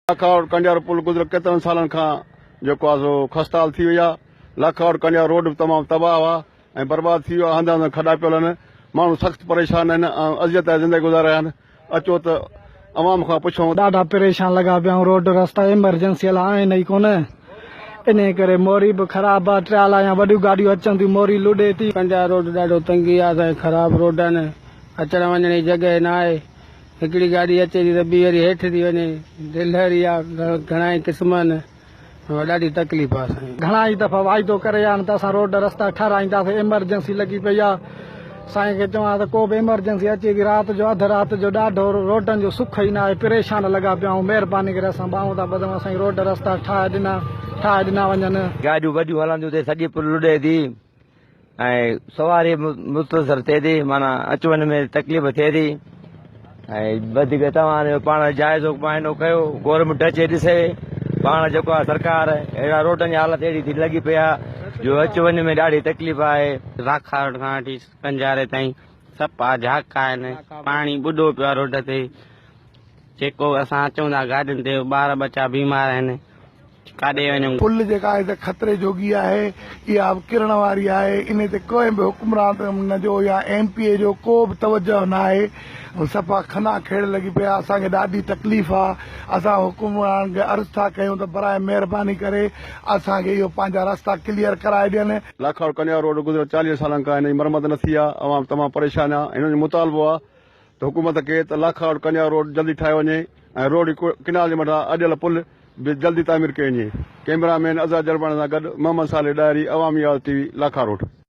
لاکاوٽ ڪنڊيارو پل گذريل ڪيترن سالن کان جيڪو آهي سو خستحال ٿي وئي آهي لاکاوٽ ڪنڊيارو روڊ به تمام تباهه آهي ۽ برباد ٿي ويو آهي هنڌ هنڌ کڏا پيل آهن ماڻهو سخت پريشان آهن ۽ اذيت آهي زندگي گذار رهيا آهن اچو ته عوام کان پڇون ڏاڍا پريشان لڳا پيا آهيون روڊ رستا ايمرجنسيل آهن ئي ڪونه انهي ڪري موري به خراب آهي ٽريالا يا وڏيون گاڏيون اچن ٿيون موري لڏي ٿي. ڪنڊيارو روڊ ڏاڍو تنگي آهي سائين خراب روڊ آهن اچڻ وڃڻ جي جڳهه ناهي. هڪڙي گاڏي اچي ٿي ته ٻي وري هيٺ ٿي وڃي ڊلهر يا گهڻائي قسمن ۾ ڏاڍي تڪليف آهي سائين. گهڻائي دفعا واعدو ڪري ويا آهن ته اسان روڊ رستا ٺهرائينداسين ايمرجنسي لڳي پئي آهي سائين کي چوان ته ڪو به ايمرجنسي اچي ٿي رات جو اڌ رات جو ڏاڍو روڊن جو سک ئي ناهي پريشان لڳا پيا آهيون مهرباني ڪري اسان ٻانهون ٿا ٻڌون اسان جي روڊ رستا ٺاهي ڏنا ٺاهي ڏنا وڃن. گاڏيون وڏيون هلنديون ته سڄي پل لڏي ٿي. ۽ سواري مختصر ٿئي ٿي معنيٰ اچ وڃ ۾ تڪليف ٿئي ٿي ۽ وڌيڪ توهان پاڻ جائزو معائنو ڪيو گورنمينٽ اچي ڏسي پاڻ جيڪو آهي سرڪار اهڙا روڊن جي حالت اهڙي ٿي لڳي پئي آهي جو اچ وڃ ۾ ڏاڍي تڪليف آهي راکاڙ کان وٺي ڪنجاري تائين سپا جھاڪا آهن پاڻي ٻڏو پيو آهي روڊ تي جيڪو اسان اچون ٿا گاڏين تي ٻار ٻچا بيمار آهن ڪاڏي وڃون. پل جيڪا آهي سا خطري جوڳي آهي، اها به ڪرڻ واري آهي، انهي تي ڪنهن به حڪمران جو يا ايم پي اي جو ڪو به توجهه ناهي، صفا خنا کيڙ لڳي پئي آهي، اسان کي ڏاڍي تڪليف آ، اسان حڪمرانن کي عرض ٿا ڪيون ته براء مهرباني ڪري اسان کي اهو پنهنجا رستا ڪليئر ڪرائي ڏين. لاکاڙ ڪنيا روڊ گذريل چاليهه سالن کان هن جي مرمت نه ٿي آ، عوام تمام پريشان آ، هنن جو مطالبو آ ته حڪومت کي ته لاکاڙو ڪنيا روڊ جلدي ٺاهيو وڃي ۽ روهڙي ڪئنال جي مٿان اڏيل پل به جلدي تعمير ڪئي وڃي ڪئميرا مين عزا جرماڻي سان گڏ محمد صالح ڏاهري عوامي آواز ٽي وي لاکاروڊ.